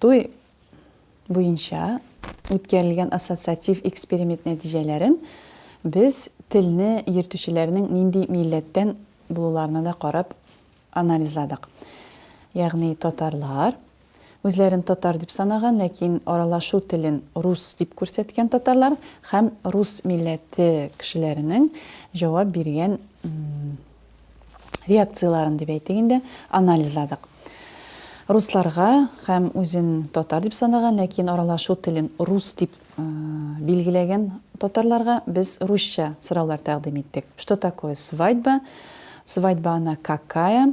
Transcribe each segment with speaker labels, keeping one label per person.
Speaker 1: Туй буенча үткәрелгән ассоциатив эксперимент нәтиҗәләрен без телне йөртүчеләрнең нинди милләттән булуларына да карап анализладык. Ягъни татарлар, Үзләрен татар дип санаган, ләкин аралашу телен рус дип күрсәткән татарлар һәм рус милләте кешеләренең җавап биргән реакцияләрен дип әйтик инде, анализладык. Русларга һәм үзен татар дип санаган, ләкин аралашу телен рус дип билгеләгән татарларга без русча сораулар тәкъдим иттек. Что такое свадьба? Свадьба она какая?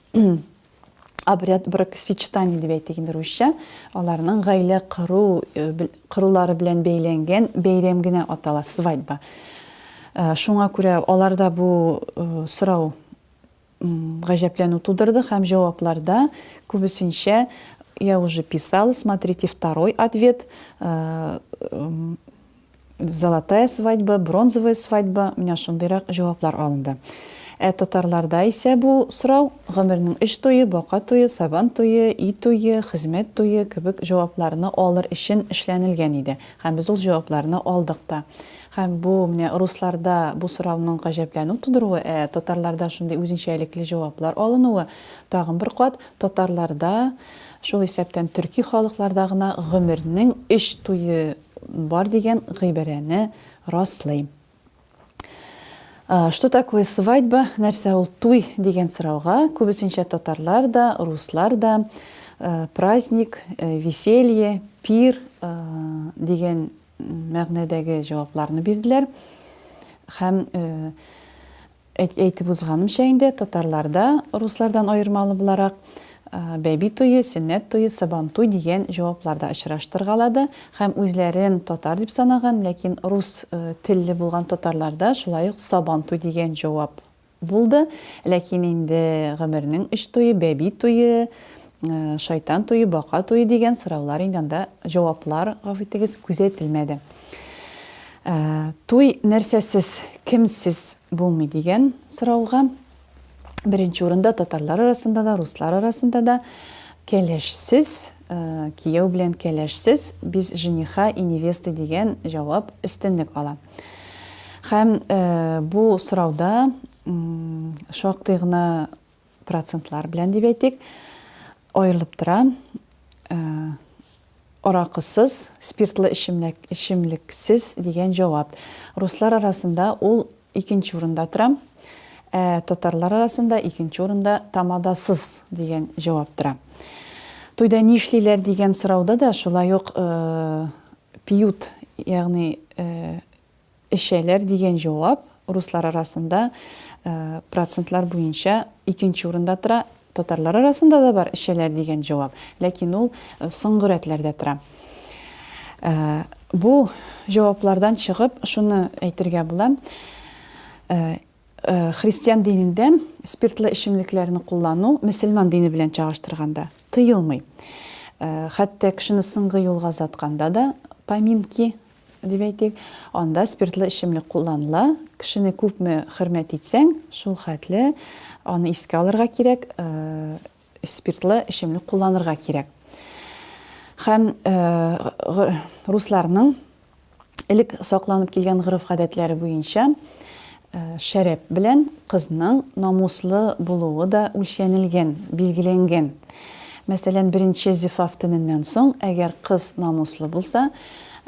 Speaker 1: обряд бракосочетания дип әйтик инде русча, аларның гаилә кыру э, кырулары белән бәйләнгән бәйрәм генә атала свадьба. Э, шуңа күрә аларда бу э, сорау гаҗәпләнү тудырды һәм җавапларда күбесенчә я уже писала, смотрите второй ответ, Золотая свадьба, бронзовая свадьба, менә шундыйрак җаваплар алынды. Ә татарларда исә бу сорау гомернең өч туе, бака туе, сабан туе, өй туе, хезмәт туе кебек җавапларны алыр өчен эшләнелгән иде. Һәм без ул җавапларны алдык та. Һәм бу менә русларда бу сорауның гаҗәпләнү тудыруы, ә татарларда шундый үзенчәлекле җаваплар алынуы тагын бер кат татарларда, шул исәптән төрки халыкларда гына гомернең өч туе бар дигән гыйбарәне раслый. Что такое свадьба? Нәрсә ул туй дигән сорауга күбесенчә татарлар да, руслар да праздник, веселье, пир дигән мәгънәдәге җавапларны бирделәр. Һәм Әйтеп узганымча инде, татарларда, руслардан аермалы буларак, бәби туе, сөннәт туе, сабантуй дигән җаваплар да очраштыргалады һәм үзләрен татар дип санаган, ләкин рус телле булган татарларда шулай ук сабантуй дигән җавап булды. Ләкин инде гомернең өч туе, бәби туе, Шайтан туе, бака туе дигән сораулар инде анда җаваплар, гафу итегез, күзәтелмәде. Туй нәрсәсез, кемсез булмый дигән сорауга беренче урында татарлар арасында да, руслар арасында да кәләшсез, э, кияү белән кәләшсез без жениха и невесты дигән җавап өстенлек ала. Һәм э, бу сорауда шактый гына процентлар белән дип әйтик, аерылып тора. Э, аракысыз, спиртлы эчемлек, эчемлексез дигән җавап. Руслар арасында ул икенче урында тора. Ә татарлар арасында икенче урында тамадасыз дигән җавап тора. Туйда нишлиләр дигән сорауда да шулай ук э, пьют, ягъни э, Эчәләр дигән җавап руслар арасында процентлар буенча икенче урында тора. Татарлар арасында да бар эчәләр дигән җавап, ләкин ул соңгы рәтләрдә тора. Бу җаваплардан чыгып, шуны әйтергә була, христиан динендә спиртлы эчемлекләрне куллану мөселман дине белән чагыштырганда тыелмый. Хәтта кешене соңгы юлга озатканда да поминки дип әйтик, анда спиртлы эчемлек кулланыла. Кешене күпме хөрмәт итсәң, шул хәтле аны искә алырга кирәк, спиртлы эчемлек кулланырга кирәк. Һәм русларның элек сакланып килгән гореф-гадәтләре буенча, Шәраб белән кызның намуслы булуы да үлчәнелгән, билгеләнгән. Мәсәлән, беренче зифаф төненнән соң, әгәр кыз намуслы булса,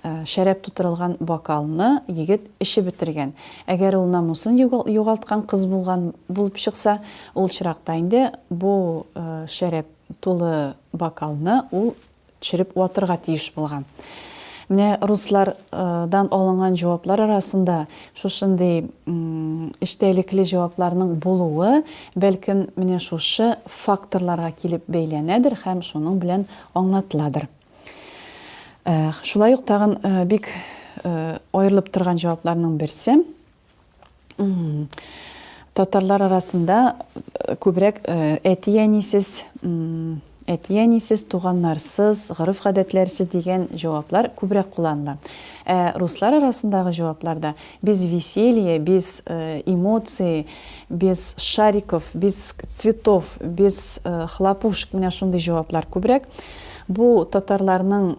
Speaker 1: шәраб тутырылган бокалны егет эчеп бетергән. Әгәр ул намусын югалткан кыз булган булып чыкса, ул очракта инде бу шәраб тулы бокалны ул төшереп ватырга тиеш булган. Менә руслардан алынган җаваплар арасында шушындый эчтәлекле җавапларның булуы, бәлкем, менә шушы факторларга килеп бәйләнәдер һәм шуның белән аңлатыладыр. Шулай ук тагын бик аерылып торган җавапларның берсе, Татарлар арасында э, күбрәк э, әти-әнисез, әти-әнисез, туганнарсыз, гореф-гадәтләрсез дигән җаваплар күбрәк кулланыла. Ә руслар арасындагы җавапларда без веселье, без э, эмоции, без шариков, без цветов, без хлопушек, менә шундый җаваплар күбрәк. Бу татарларның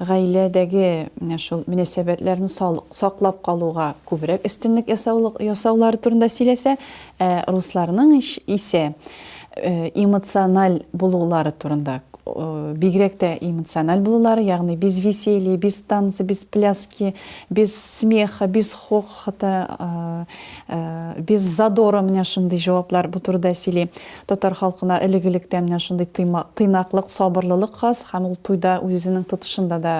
Speaker 1: гаиләдәге менә шул мөнәсәбәтләрне саклап калуга күбрәк өстенлек ясаулары турында сөйләсә, ә русларның исә эмоциональ булулары турында, бигрәк тә эмоциональ булулары, ягъни без веселье, без танцы, без пляски, без смеха, без хохота, без задора менә шундый җаваплар бу турыда сөйли. Татар халкына элек-электән менә шундый тыйнаклык, сабырлылык хас һәм ул туйда үзенең тотышында да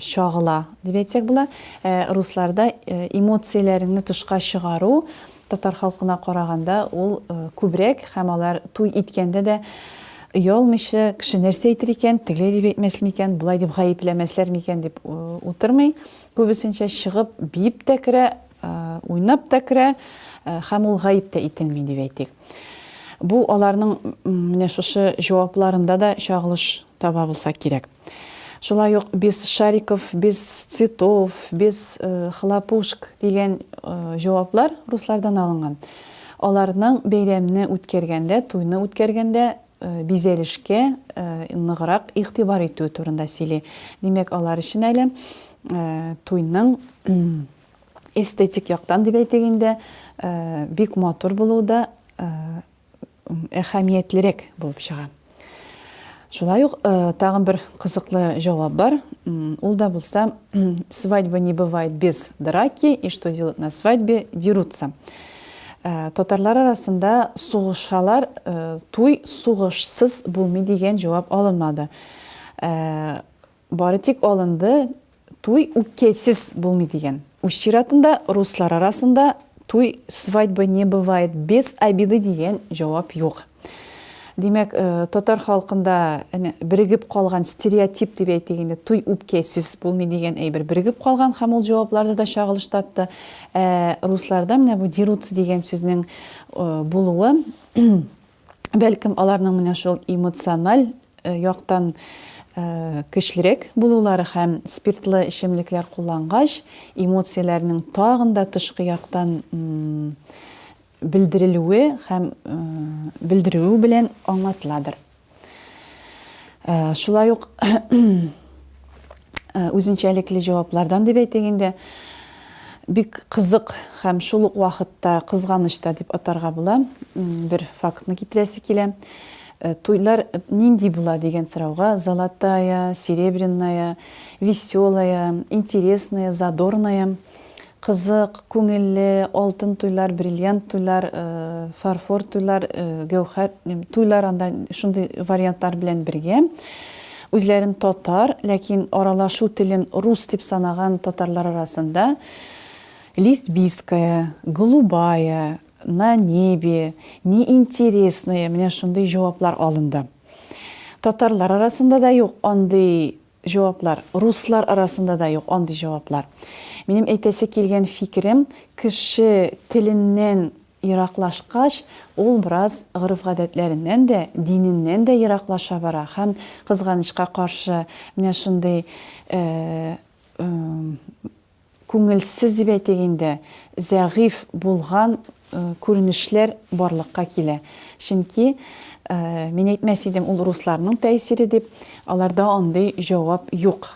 Speaker 1: чагыла, дип әйтсәк була. Ә русларда эмоцияләреңне тышка чыгару татар халкына караганда ул күбрәк һәм алар туй иткәндә дә оялмыйча, кеше нәрсә әйтер икән, тегеләй дип әйтмәс микән, болай дип гаепләмәсләр микән дип утырмый, күбесенчә чыгып, биеп тә керә. уйнап та керә һәм ул гаеп тә ителми дип әйтик. Бу аларның менә шушы җавапларында да чагылыш таба булса кирәк. Шулай ук без шариков, без цветов, без хлопушк дигән җаваплар руслардан алынган. Аларның бәйрәмне үткәргәндә, туйны үткәргәндә бизәлешкә ныграк игътибар итү турында сөйли. Димәк, алар өчен әле туйның эстетик яктан дип әйтик инде, бик матур булуы да әһәмиятлерәк булып чыга. Шулай ук тагын бер кызыклы җавап бар. Ул да булса, свадьба не бывает без драки, и что делают на свадьбе, дерутся. Татарлар арасында сугышалар, туй сугышсыз булмый дигән җавап алынмады. Бары тик алынды, туй үпкәсез булмый дигән. Үз чиратында руслар арасында туй свадьбы не бывает без обиды дигән җавап юк. Димәк, татар халкында әнә берегеп калган стереотип дип әйтик инде, туй үпкәсез булмый дигән әйбер берегеп калган һәм ул җавапларда да чагылыш тапты. Ә русларда менә бу дерутся дигән сүзнең булуы бәлкем аларның менә шул эмоциональ яктан көчлерәк булулары һәм спиртлы эчемлекләр куллангач, эмоцияләрнең тагын да тышкы яктан белдерелүе һәм белдерүе белән аңлатыладыр. Шулай ук үзенчәлекле җаваплардан дип әйтик инде, бик кызык һәм шул ук вакытта кызганыч та дип атарга була. Бер фактны китерәсе килә. Туйлар нинди була дигән сорауга золотая, серебряная, веселая, интересная, задорная – Кызык, күңелле, алтын туйлар, бриллиант туйлар, фарфор туйлар, гәүһәр туйлар анда шундый вариантлар белән бергә. Үзләрен татар, ләкин аралашу телен рус дип санаган татарлар арасында Лесбийская, Голубая, На небе, Неинтересные, менә шундый җаваплар алынды. Татарлар арасында да юк андый Җаваплар. Руслар арасында да юк андый җаваплар. Минем әйтәсе килгән фикерем, кеше теленнән ераклашкач, ул бераз гореф-гадәтләреннән дә, диненнән дә ераклаша бара һәм, кызганычка каршы, менә шундый күңелсез дип әйтик инде, зәгыйфь булган күренешләр барлыкка килә. Чөнки, мин әйтмәс идем, ул русларның тәэсире дип, аларда андый җавап юк.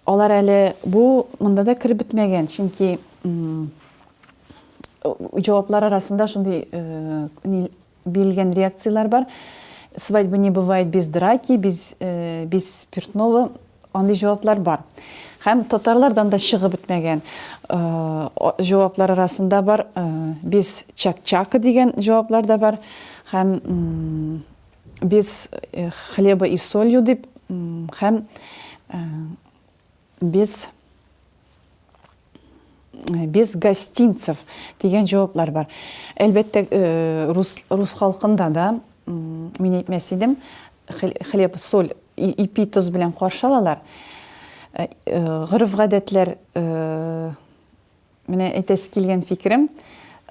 Speaker 1: Алар әле бу монда да кереп бетмәгән, чөнки җаваплар арасында шундый Бирелгән реакцияләр бар. Свадьба не бывает без драки, без, э, без спиртного. Андый җаваплар бар. Һәм татарлардан да чыгып бетмәгән э, җаваплар арасында бар. Э, без чак-чакы дигән җаваплар да бар. Һәм э, без э, хлеба и солью дип, э, һәм э, без без гостинцев дигән җаваплар бар. Әлбәттә, э, рус, рус халкында да, мин әйтмәс идем, хлеб, соль, ипи, тоз белән каршы алалар. Э, э, Гырыф-гадәтләр Менә әйтәсе килгән фикерем,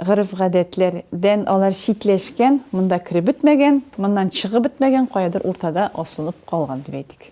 Speaker 1: гореф-гадәтләр дән алар читләшкән, монда кереп бетмәгән, моннан чыгып бетмәгән, каядыр уртада асылып калган дип әйтик.